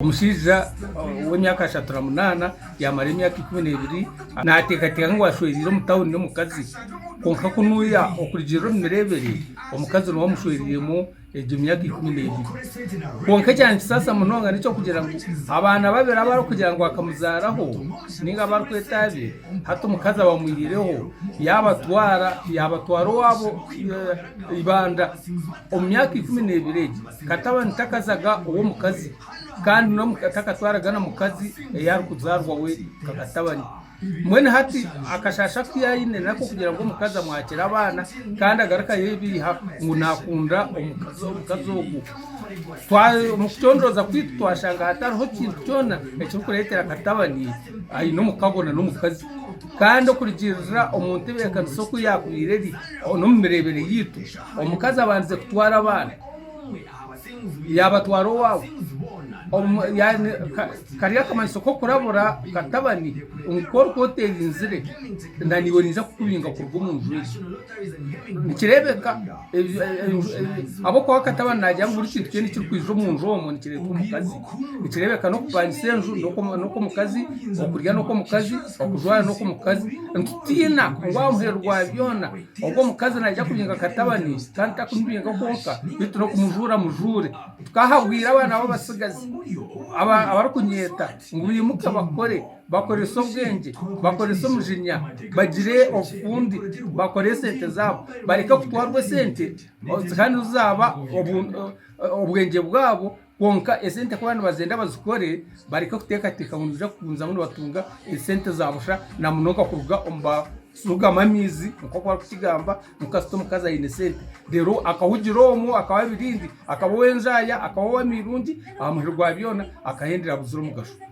Omushaija w'emyaka ashatu na munaana yamara emyaka ikumi n'ebiri nateekateeka ngu ashwereire omu tauni n'omukazi kwonka ku nuuya okurugiirira omu mireebere omukazi niwe amushwereiremu egyo myaka ikumi n'ebiri. Kwonka ekyankisaasa munonga n'eky'okugira ngu abaana babiri abu arikugira ngu akamuzaaraho nainga abu arikweta abe, hati omukazi abamwihireho yaabatwara yaabatwara owaabo eibanda omu myaka ikumi n'ebiri egyo. Katabani takazaga ow'omukazi, kandi n'omuka takatwaraga na mukazi ei arikuzaarwa we nka katabani. Mbwenu hati akashaasha aku yaine n'ak'okugira ngu omukazi amwakire abaana, kandi agaruke ayeebeiha ngu naakunda omukazi omukazi ogwo. Twa omu kucondooza kwaitu twashanga hatariho kintu kyona ekirikureetera katabani aine omukago na n'omukazi. Kandi okurigiirira omu ntebeekanisa oku yaakubaire eri, n'omu mireebere yaitu, omukazi abandize kutwara abaana. Yaabatwara owaabo omu kari akamanyiso k'okurabura katabani ngu ku orikuba oteerinzire na naiwe naija kukubinga kuruga omu nju egyo. Nikireebeka ahabw'okuba katabani naagira ngu buri kintu kyona ekirikwija omu nju omwo nikireetwa omukazi. Nikireebeka n'okupangisa enju n'okw'omukazi, okurya n'okw'omukazi, okujwara n'okw'omukazi. Nitutiina ngu aha muheru gwa byona Ogu omukazi naija kubinga akatabani kandi takumubinga kwonka beitu n'okumujuura amujuure. Tukahabwire abaana bo abatsigazi abarikunyeeta ngu baimuke bakore, bakorese obwengye, bakorese omujinya, bagire obufundi, bakore esente zaabo bareke kutwarwa esente kandi obu zaaba obwengye bwaabo. Kwonka esente ku baba nibazenda bazikore bareke kuteekateeka ngu nibaija kugumizamu nibatunga esente za busha na munonga kuruga omu barugamu amaizi nk'oku barikukigamba ngu kasita omukazi aine esente reero akahugira omwo akaba abirindi, akaba ow'enzaaya, akaba ow'amairungi aha muheru gwa byona akahendera buzire omugasho.